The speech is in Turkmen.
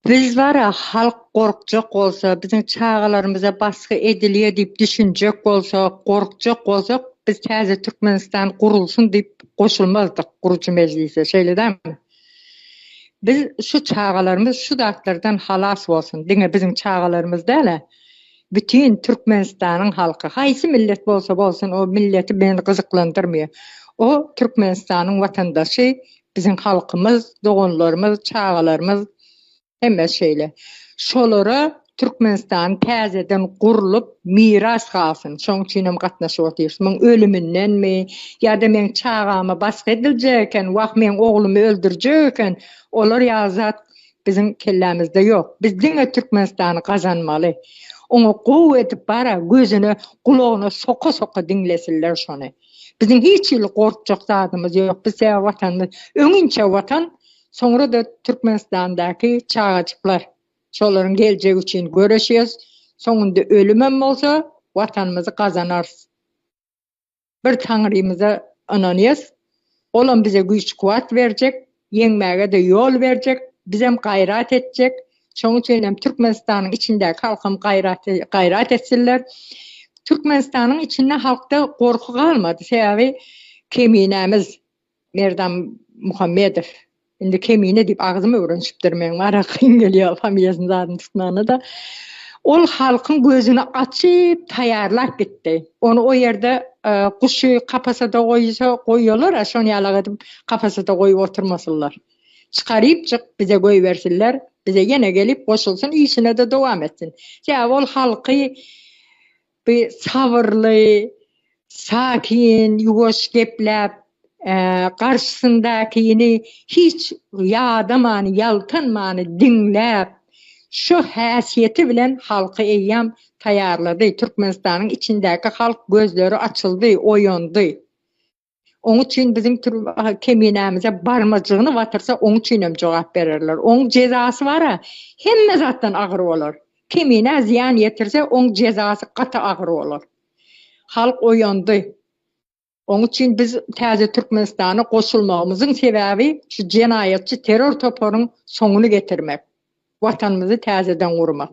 Biz bara halk gorkjak bolsa, biziň çagalarymyza basgy edilýär diýip düşünjek bolsa, gorkjak bolsak, biz täze Türkmenistan gurulsyn diýip goşulmazdyk gurujy mejlise, şeýle dälmi? Biz şu çagalarymyz şu zatlardan halas bolsun, diňe biziň çagalarymyz däl-ä, bütin Türkmenistanyň halky, haýsy millet bolsa bolsun, o milleti meni gyzyklandyrmaýar. O Türkmenistanyň watandaşy, Biziň halkymyz, doganlarymyz, çagalarymyz hemmesi şeýle. Şolara Türkmenistan täzeden gurlup, miras galsyn, şoň üçinem gatnaşyp otyrys. Muň ölümindenmi, ýa-da meň çagama basgy ediljek eken, wah, meň oglumy öldürjek eken, olar ýaly zat biziň kellämizde ýok. Biz diňe Türkmenistany gazanmaly. Oňa gowy edip bar-a, gözüne, gulagyna soka-soka diňlesinler şony. Biziň hiç hili gorkjak zadymyz ýok. Biz sebäbi Watanymyz öňinçe Watan, soňra-da Türkmenistandaky çagajyklar. Şolaryň geljegi üçin göreşýäs. Soňunda ölümem bolsa, Watanymyzy gazanarys. Bir Taňrymyza ynanýas. Olam bize güýç-kuwwat berjek. Ýeňmäge-de ýol berjek, bizem gaýrat etjek. Şoň üçin hem Türkmenistanyň içindäki halkam gaýrat gaýrat etsinler. Türkmenistanyň içinde halkda gorky galmady. Sebäbi Keminämiz Merdan Muhammedow. Indi Kemine diýip agzym öwrenişipdir meň. Maňa kyn gelýär familiýasyny zadyny tutmagyna-da. Ol halkyň gözüni açyp taýýarlap gitdi. Ony o ýerde guşy kapasada goýsa goýýalar-a şony ýalak edip kapasada goýup oturmasynlar. Çykarypjyk bize goýbersinler, bize ýene gelip goşulsyn, işine-de dowam etsin. Sebäbi ol halky bi sabyrly, sakin, ýuwaş gepläp, garşysyndakyny hiç ýadaman, ýaltanman diňläp, şo häsiýeti bilen halky eýýäm taýýarlady. Türkmenistanyň içindäki halk gözleri açyldy, oýandy. Oň üçin biziň türme keminämize barmajygyny batyrsa, oň üçin hem jogap bererler. Oň jezasy bar-a, hemme zatdan agyr bolar. Keminä zyýan ýetirse, oň jezasy gaty agyr bolar. Halk oýandy. Oň üçin biz täze Türkmenistana goşulmagymyzyň sebäbi şu jenaýatçy terror toparyň soňuny getirmek, Watanymyzy täzeden gurmak.